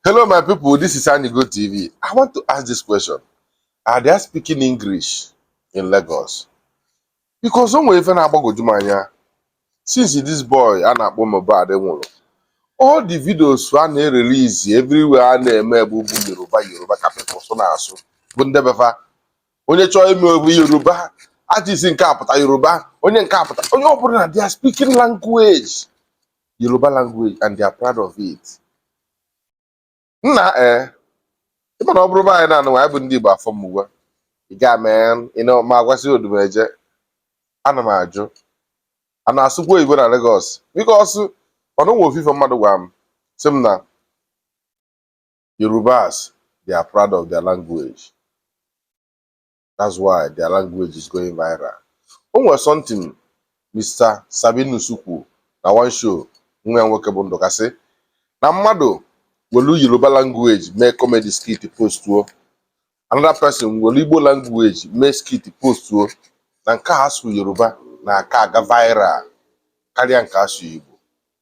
Hello, my people. This is Anigo TV. I want to ask this question. Are they speaking English in Lagos? Because o nwere ife na-agbagwoju m anya since this boy a na-akpọ Mohbad nwụrụ all the videos a na-erelizi everywhere a na-eme bụ bụ Yoruba Yoruba ka people so na-asụ bụ ndị be fa onye chọọ ime obi Yoruba artist nke a pụta Yoruba onye nke a pụta onye ọ bụla na they are speaking language Yoruba language and they are proud of it. Nna eh, ị ma na ọ bụrụ be anyị na-anụ anyị bụ ndị Igbo afọ m uwe ị ga mee ị na ma a gwasị Odumeje ana m ajụ a na-asụkwa oyibo na Lagos because o nwe ofu ife mmadụ gwara m sị m na Yorubas they are proud of their language. that's why their language is going viral o nwere something Mr. Sabinus kwuru na one show nwa ya nwoke bụ Ndụka sị na mmadụ were Yoruba language mee comedy skit postuo another person were Igbo language mee skit postuo na nke a sụụ Yoruba na-aka aga viral karịa nke a sụụ Igbo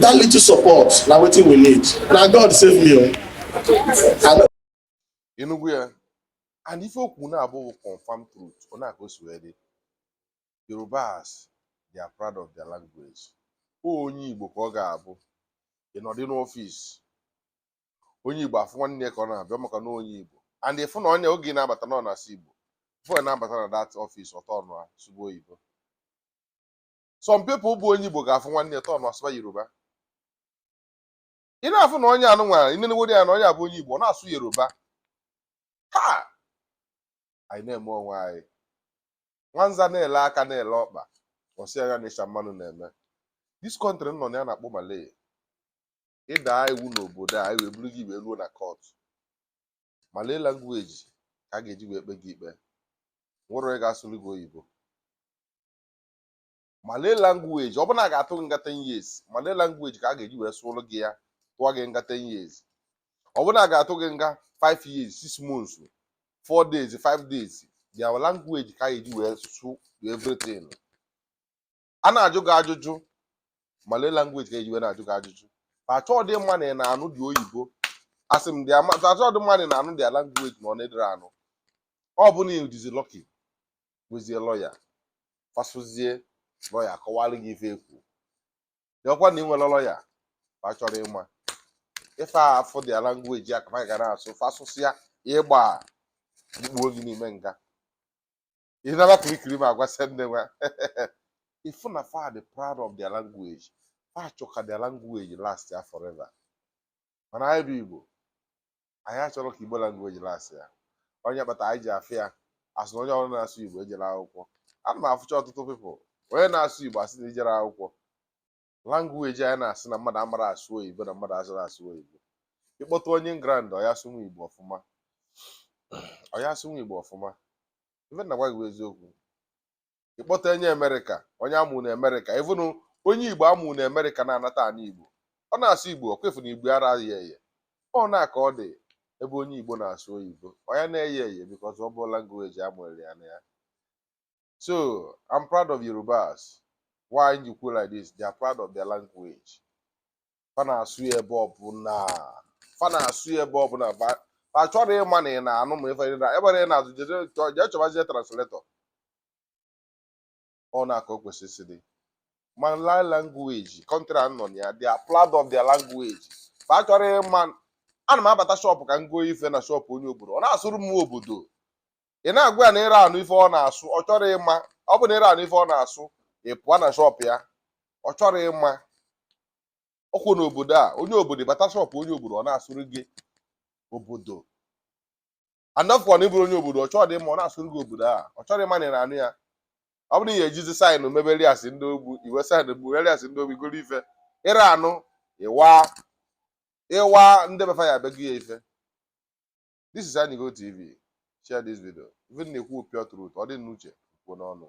that little support na wetin we need na god save me o. Oh. ị nụgo ya and ife o kwu na-abụ confam truth ọ nya ka o si wee dị yorubas they are proud of their language ọ onye igbo ka ọ ga-abụ ị nọdị n'ọfịs onye igbo afụ nwanne ya ka ọ na-abịa maka na onye igbo and ị fụ na onye oge na-abata na ọ na-asụ igbo before na-abata na that ọfịs ọ tọn sụba oyibo some people bụ onye Igbo ga-afụ nwanne ya tọn asụba Yoruba ị na-afụ na onye a nụnwa ị nenegodi ya na onye a bụ onye Igbo na-asụ Yoruba ha anyị na-eme onwe anyị nwanza na-ele aka na-ele ọkpa ọ sị anya na ịcha mmanụ na-eme this country m nọ na ya a na-akpọ Malay ị daa iwu n'obodo a e wee buru gị wee ruo na court Malay language ka a ga-eji wee kpe gị ikpe o nwerọ onye ga-asụrụ gị oyibo malay language ọ bụ na a ga-atụ gị nga 10 years malay language ka a ga-eji wee sụrụ gị ya tụọ gị nga 10 years ọ bụ na a ga-atụ gị nga 5 years 6 months 4 days 5 days their language ka a ga-eji wee sụ everything a na-ajụ gị ajụjụ malay language ka e ji wee na-ajụ gị ajụjụ achọọdị ịma na ị na-anụdị oyibo asị m dị ama achọọdị ịma na ị na-anụdị language na ọ na ị dịrọ anụ ọ bụ na ị dịzị lucky bụzie lawyer fa sụzie lawyer kọwara gị ife ekwu dị ọkwa na ị nwere lawyer fa achọrọ ịma ife afụ their language ka fa ga na-asụ fa sụsịa ịgba e kpuo gị n'ime nga ị nara kirikiri ma agwa sị nne nwa ị fụ na fa dị proud of their language fa chọ ka their language last ya forever mana anyị bụ igbo anyị achọrọ ka Igbo language last ya ọ nya kpata anyị ji afụ ya asị na onye ọrụ na-asụ Igbo ejere akwụkwọ ana m afụcha ọtụtụ people onye na-asụ Igbo a sị na i jere akwụkwọ language anyị na-asị na mmadụ amara asụ oyibo na mmadụ ara asụ oyibo ị kpọta onye England ọ ya asụnwu Igbo ọfụma ọ ya asụnwu Igbo ọfụma ife m na-agwa gị bụ eziokwu ị kpọta onye Amerịka onye a mụ na Amerịka even onye Igbo a mụ na Amerịka na-anata ana Igbo ọ na-asụ Igbo ọkwa ị fụ na Igbo ara ya eye ọ na-aka ọ dị ebe onye Igbo na-asụ oyibo ọ ya na-eye eye because ọ bụrọ language a mụrụ ya na ya so I'm proud of Yorubas why m ji kwuo like this they are proud of their language fa na-asụ ya ebe ọbụla fa na-asụ ya ebe ọbụla fa achọrọ ịma na ị na-anụ ma ife na ebe na ị na-azụ jee chọbazie translator ọ na-aka o kwesịrị isi dị Malay language country a nọ na ya they are proud of their language fa achọrọ ịma ana m abata shop ka m goo ife na shop onye obodo ọ na-asụrụ m obodo ị na-agwa ya na ịra anụ ife ọ na-asụ ọ chọrọ ịma ọ bụ na ịra anụ ife ọ na-asụ ị pụọ na shop ya ọ chọrọ ịma ọkwa n'obodo a onye obodo bata shop onye obodo ọ na-asụrụ gị obodo a na-afụkwa na ị bụrọ onye obodo ọ chọrọdị ịma ọ na-asụrụ gị obodo a ọ chọrọ ịma na ị na-anụ ya ọ bụrụ na i jizi sign mebere ya as ndị ogbu i we sign bụrụ ya as ndị ogbu i goro ife ịra anụ ịwa ịwa ndị befa ya abịa go ya ife this is Anigo TV share this video ife m na-ekwu pure truth ọ dị n'uche kwuo n'ọnụ